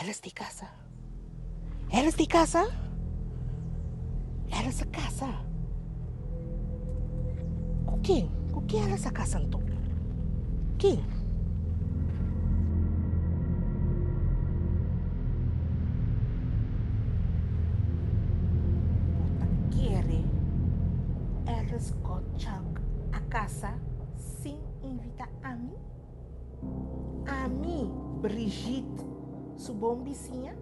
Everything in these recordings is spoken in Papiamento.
Elis di kasa, elis di kasa, elis a kasa. Ku kin? Ku kin elis a kasa anto? Kin? Bo ta kere ku elis kòchak a kasa sin invita ami? Ami, Brigitte, su bon bisiña.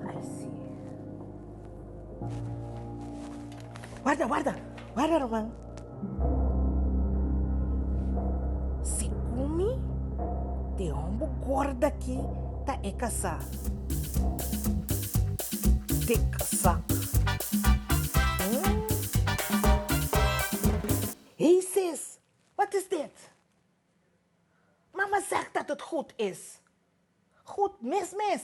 Ai si. Warda, warda, warda ruman. Si kumi te hombu gorda ki ta e kasá. Tic sac. Hey sis, wat is dit? Mama zeg dat het goed is. Goed mes mes.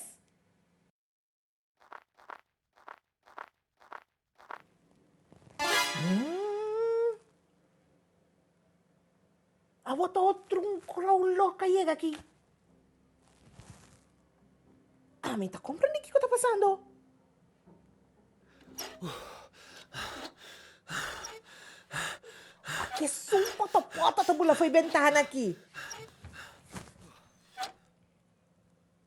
Awor ta otro un crow lòk a yega aki. Ami ta komprende kiko ta pasando. Kesun poto poto ta bula fo'i bentana aki.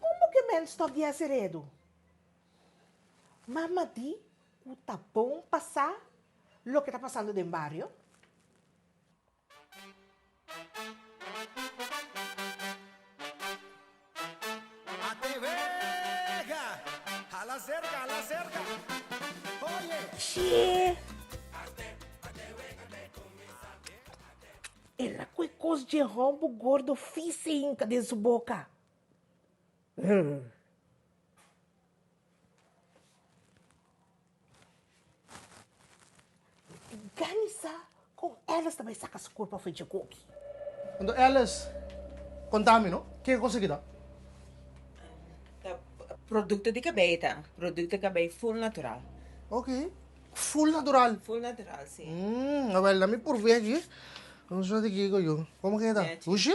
Como que men stop di hasi redu? Mama di cu ta bon pa sa loke ta pasando den bario? Ela cu e cos dje hòmbu gordo fise hinca den su boca. Ganisa kon Alice ta bai saka su kurpa for dje koki. Anto Alice konta mi no ke kos aki ta. Ta produkto di kabei ta produkto di kabei ful natural. Ok ful natural. Ful natural si. Hm awel na mi purvia aki. Kusat di kiko yu komo ke ta hushi.